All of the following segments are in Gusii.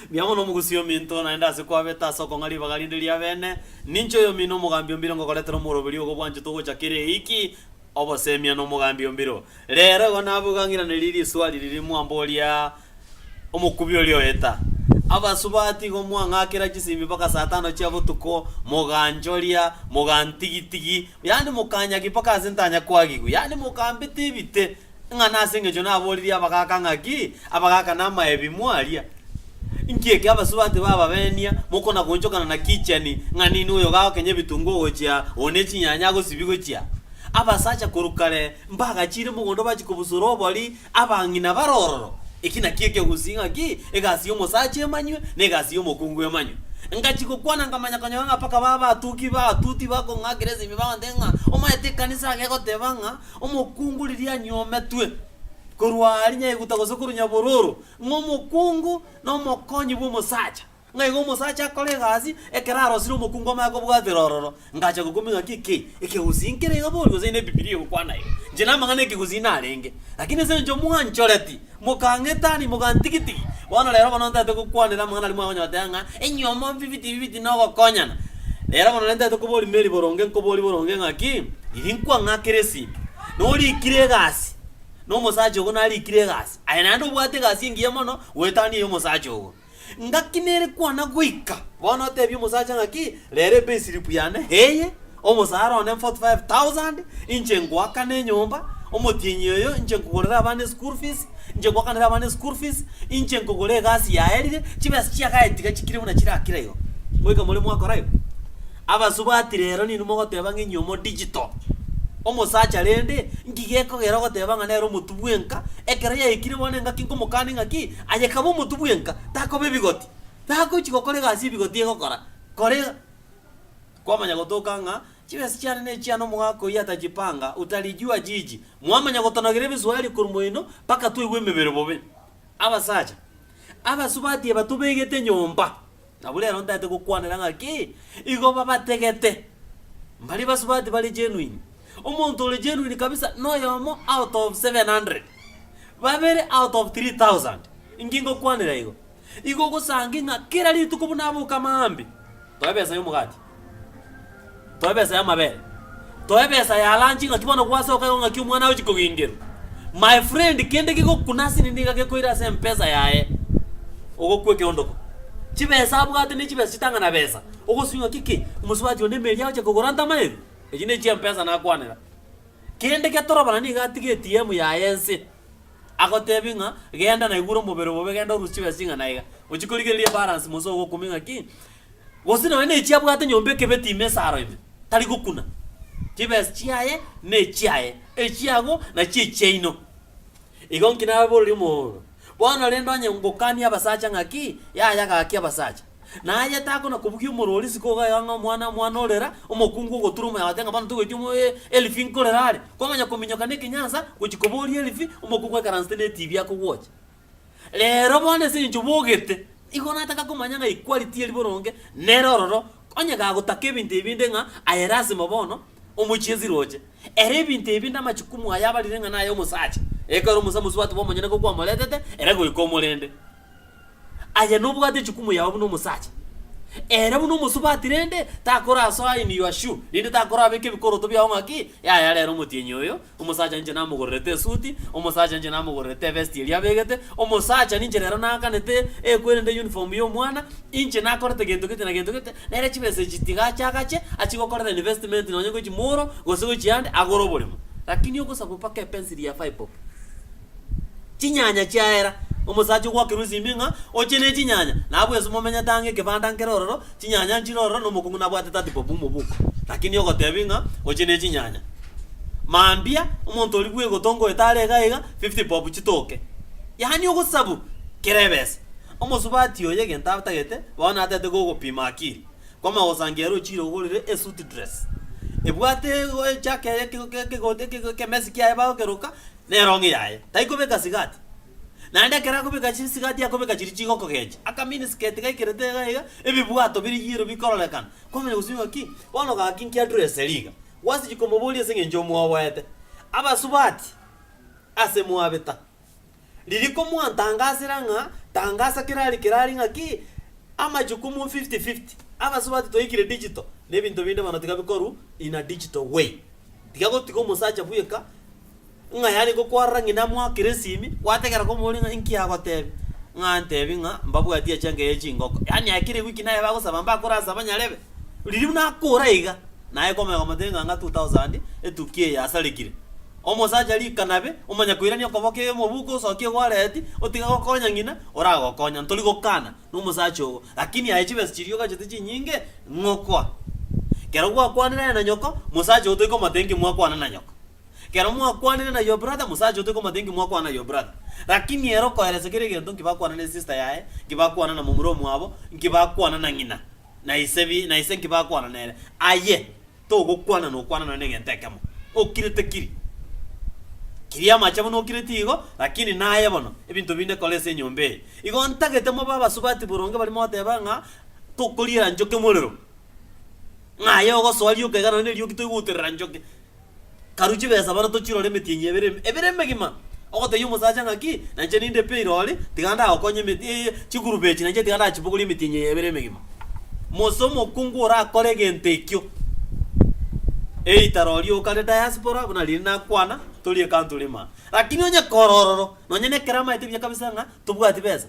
Mbuya mono omogusi ominto, naende ase kwabeta ase okong'a ribaga rinde ri'abene, ninche oyomino omogambi o mbiro ngogoretera omoroberio ogo bwanchete ogocha kera eiki oboseemia nomogambi o mbiro. Reero igo nabwo igang'iranerie risoa riria mwamboria omokubi oria oeta. Abasubati igo mwang'akera chisimbi mpaka saa tano chia botuko, moganchoria, mogantigitigi, yaani mokanyagi mpaka ase ntanya kwagigwa, yaani mokambita ebite, Ng'a nase engecho naboririe abagaaka ng'aki, abagaaka namaebi, mwaria. Inki eke abasubati bababenia, mokona-goonchokana na kicheni, ng'a nini oyo ogaao kenya ebitunguo gochia, oo ne chinyanya agosibi gochia? Abasacha korwa kare mbagachiire mogondo bachia kobusora obori, abang'ina bare ororo. Eki nakio ekegusii ng'aki, egasi y'omosacha emanywe, na egasi y'omokungu emanywe. Ngachia gokwana nkamanya konyora ng'a mpaka baba abatuki, ba atuti, bakong'akera esimi bagontebi ng'a, Omanyete ekanisa iga egoteba ng'a, Omokungu riria anyometwe korwa aria nyaeguta gose korwa nyabororo, ng'a omokungu nomokonyi bw'omosacha, ng'a igo omosacha akore egasi, ekero arosire omokungu amanye kobwatera ororo, ngacha gokumia ng'a ki ki, ekegusii nkere iga borii, gose inde Bibilia egokwana iga. Inche namang'ana ekegusii narenge, lakini ase eng'encho mwanchoreti, Mokangetani, mogantigitigi. Bono rero bono ntaete gokwanera amang'ana aria mwagonyotera ng'a inywe omobibiti ibibiti nogokonyana. Rero bono nere ntaete koboria Mary boronge, nkoborie boronge ng'aki, riria nkwang'akire esegi, norikire egasi, nomosacha ogo narikire egasi, aye naende obwate egasi engiya mono goetania ey'omosacha ogo. Ngaki nere kwana goika bono otebie omosacha ng'aki, Rera epayslip yane, eye, omosaara one 45,000, inche ngoakane enyomba, omotienyi oyo, inche nkogorere abana eschool fees, inche ngoakanere abana eschool fees, inche nkogora egasi yaerire, chibesa chiagaye tiga chikire buna chirakire igo. Ngoika more mwakora igo. Abasubati rero ninwe mogoteba ng'a inwe mo digital. Omosacha rende, nki gekogera ogoteba ng'a nere omotubu enka, ekero yaikire bono engaki nkomokani ng'aki, Aye kabe omotwe bwenka, takoba ebigoti. Tagochi gokora egasi ebigoti egokora, koreng kwamanya gotoka ng'a chibesa chiane nechia nomogaka oyio atachipanga, utalijua jiji. Mwamanya gotonogera ebiswario korwa moino mpaka twaigwa emebere bobe. Abasacha abasubati aba tobegete nyomba. Nabo rero ntaete gokwanera ng'aki igo babategete. Mbaria basubati bare genuine. Omonto ore genuine kabisa noyomo out of 700. Babere out of 3,000. Inki ngokwanera igo? Igo ogosangi ng'a kera rituko buna aboka maambi, toe besa y'omogati. Toe besa y'amabere. Toe besa ya lunch ng'aki bono gwasoka igo ng'aki omwana agochia kogengerwa. My friend kende kegokuna ase nini iga gekoira ase mpesa yaye, ogokwa ekeondoko. Chibesa abwate ne chibesa chitang'ana besa, ogosubia ng'aki ki, omosubati onde emeeri agochia kogora nta amayeru? Echi ne chia mpesa nakwanera. Kende getorobana nigo atige ATM yaye ense, agotebi ng'a genda naigure omobere obobe genda oruse chibesa ching'ana iga. Ochia korigereria ebalance mose ogokumia ng'aki. Gose nonya nechiabwate nyomba ekebe tiime esaro ime, tari gokuna. Chibesa chiaye nechiaye, echiago nachio echiaino. Igo inki nababorerie omororo? Bono rende onye ngokania abasacha ng'aki, yaya gaki abasacha. Na aye takona kobugia omoro oria isiko iga iga ng'a omwana omwana orera, omokungu ogotura omoya gote ng'a bono togoeti omo e elfi nkorera are, kwang'anya kominyoka nekenyansa gochia koboria elfi, omokungu aikaransete netibi akogwocha. Reero bono ase eng'encho bogete, nigo nataka komanya ng'a equality eri boronge nere ororo, onye gagotaka ebinto ebi inde ng'a aye lasima bono omochiesi roche. Ere ebinto ebi inde amachukumu aye abarire ng'a naye omosacha, ekero omosa mosubati bw'omonyene nigo kwamoretete ere goika omorende. Aye nobwate echukumu yao buna omosacha. Ere buna omosubati rende, takorasoa in your shoe, rende takorabeka ebikoroto biao ng'a ki, yaya rero omotienyi oyo, Omosacha ninche namogorerete esuti, omosacha ninche namogorerete evesti eria abegete, omosacha ninche rero naakanete ekwerende uniform y'omwana, inche nakorete gento gete na gento gete, nere chibesa echi tiga ache agache achie gokorera investment nonye gochia Moro gose gochia ande agore oboremo. Lakini ogosakwa mpaka epensiri ya five bob. Chinyanya chiaera. Omosacha ogwakerwa esimi ng'a oche ne chinyanya, nabwo esimo omenyete ang'e ekebanda nkere ororo, chinyanya nchire ororo na omokong'u nabwate tatipo bw'omoboko. Lakini ogotebi ng'a oche ne chinyanya. Mambia, omonto oria bwegotonga oyo tare iga iga, fifty bob chitoke. Yaani ogosabu kera ebesa. Omosubati oyo egento atagete, bono atagete gogopima akiri. Koma gosangeria ere ochire ogorire esuit dress. Ebwate egochaka eke eke eke ekemesi kiaye bagokeroka, Neronge yaye, taikobeka sigati. Naende ekero akobeka chisigati akobeka chiria chigokogencha, aka minisketi gaikerete iga iga, ebibwato bire yellow bikororekana, kwamanya gose ng'aki bono gaki nkia dress eria iga. Gwasechia komoboria ase eng'encho omwoboete. Abasubati, ase mwabeta. Riria komwantangasera ng'a tangasa kera aria kera aria ng'aki amachukumu fifty fifty, abasubati twaikire digital, na ebinto binde bono tiga bikorwa in a digital way. Tiga gotiga omosacha bweka. Ng'a yare gokwarora ng'ina mwa Keresimi, gwategera komoboria ng'a inki agotebi. Ng'a antebi ng'a mbabwati echenkei ye chingoko. Yaani ekero igwe ki naye bagosaba mbakore asaba nyarebe. Riria buna akora iga, naye komanya komotebia ng'a ng'a two thousand etuki eye asarekire. Omosacha rika nabe, omanya koirania okoboko iga mobuke osokie gwareti, otige gokonya ng'ina, oragokonya. Ntori gokana nomosacha ogo. Lakini aye chibesa chiria ogachete chinyinge, ng'okoa. Kero gwakwanire aye na nyoko, mosacha ogo tori komotebia inki mwakwana na nyoko. Kero mwakwanire na your brother, mosacha ote komotebi nki mwakwana na your brother. Rakini ere okoeresa kera egento nki bakwana na esister yaye, nki bakwana na momura omwabo, nki bakwana na ng'ina, na ise bi, na ise nki bakwana nere. Aye togokwana nokwana nonye na egento ekemo. Okire tekiri. Kiria amache buna okireti igo, rakini naye bono ebinto binde kora ase enyomba eye. Igo ntagete mobe abasubati boronge baria mogoteba ng'a tokoriera nchoki morero. Ng'a aye ogosoa rioka iga nonye na erioki toigwa oterera nchoki. Karu chibesa bono tochirore emeti eye ebere ebere emegima, ogotebia omosacha ng'aki, na inche ninde pi airori, tiga ndagokonye emeti eye chigroup echi na inche tiga ndachibogorie emeti enye eye ebere emegima. Mose omokungu orakore egento ekio, either oria okare diaspora buna riria nakwana, tori ecountry imana. Lakini onye kore ororo, nonye nekero amaete buya kabisa ng'a tobwati besa.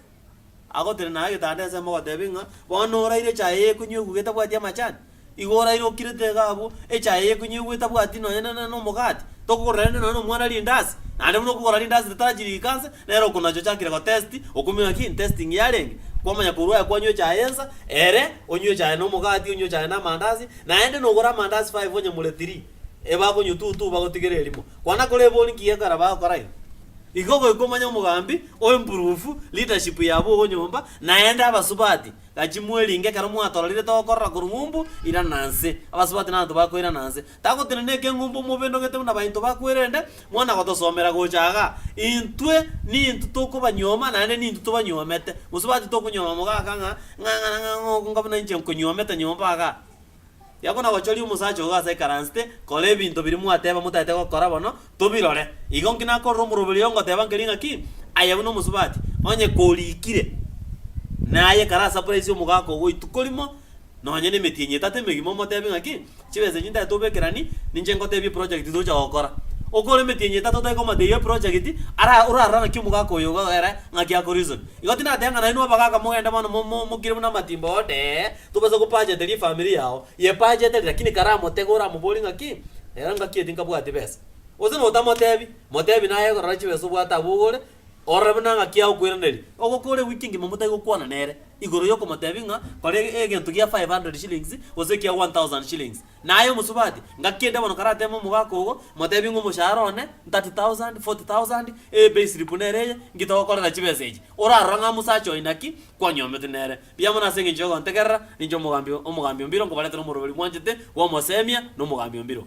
Agotenena agetanda ensemo ogoteebia ng'a, Bono oraire echae y'ekonywa eguga etabwati amachani? Igo oraire okirete iga abwo, echae y'ekonywa eguga etabwati nonya na nomogati, tokogora rende nonya nomwana rindasi, naende buna okogora rindasi ritarachi riika nse, nere okonacha ochakire gotest, okomenya ki? Testing yarenge. Kwamanya korwa aye kwanywa echae ensa, ere, onywe echae nomogati, onywe echae namandasi, naende nogore amandasi five onyamure three. ebakonyotutu bagotigera erimo. Kwana kore ebori nki gekogera bagokora igo? Igo goika omanye omogambi o improve leadership yabo ogo nyomba naende abasubati gachi mweringe ekero mwatorarire togokorora korwa ng'umbu irana nse abasubati nabato bakoirana nse tagotenena ekeng'umbu omobe ndogete buna bainto bakwerende mwana gotosomera gocha iga intwe nintu tokobanyuoma naende nintu tobanyuomete mosubati tokonyuoma mogaka ng'a ng'a ng'a ng'a ng'a onga buna inche nkonyuomete nyomba iga. Yako nagochoria omosacha ogo ase ekaransite, Kora ebinto biria mwateba motaete gokora bono, tobirore. Igo nki nakorora omoroberi oyo ngoteba nkeri ng'aki, Aye buna omosubati, onye korikire, naye kare asapuraisi omogaka ogo ituko rimo, nonye nemetienyi etato emegima omotebi ng'aki, Chibesa echi ntaete obekerani, ninche ngotebie eprojegiti tocha gokora. Okore emetienyi etato otekomata eyio eprojegiti, ara orarora ng'aki omogaka oyo igo ere ng'aki akorisoni. Igo tindateba ng'a nainwe abagaka mogende bono mo mo mokire buna amatimba oo, dee. Tobasa gopacha tari efamiri yao yepache tari lakini kare amotege oramoborie ng'aki ero ngaki eri nkabwati besa. Gose notamotebi, motebi naye rora chibesa obwate abwo ogore orore buna ng'aki agokoiraneria. Ogokora ewiki engima motari gokwana nere igoro yokomotebi ng'a kora egento gia five hundred shillings gose ekia one thousand shillings. Naye omosubati ngaki ende bono karatebe omogaka ogo motebi ng'a omoshahara one thirty thousand, forty thousand, eye payslip nere eye ng'itogokorera chibesa echi. Orarora ng'a omosacha oyo naki kwanyomete nere. Riamwe nase engencho y'ogontegerera, ninche omogambi o, omogambi o mbiro, nkobaretera omoroberi mwanchete, bw'omoseemia, na omogambi o mbiro.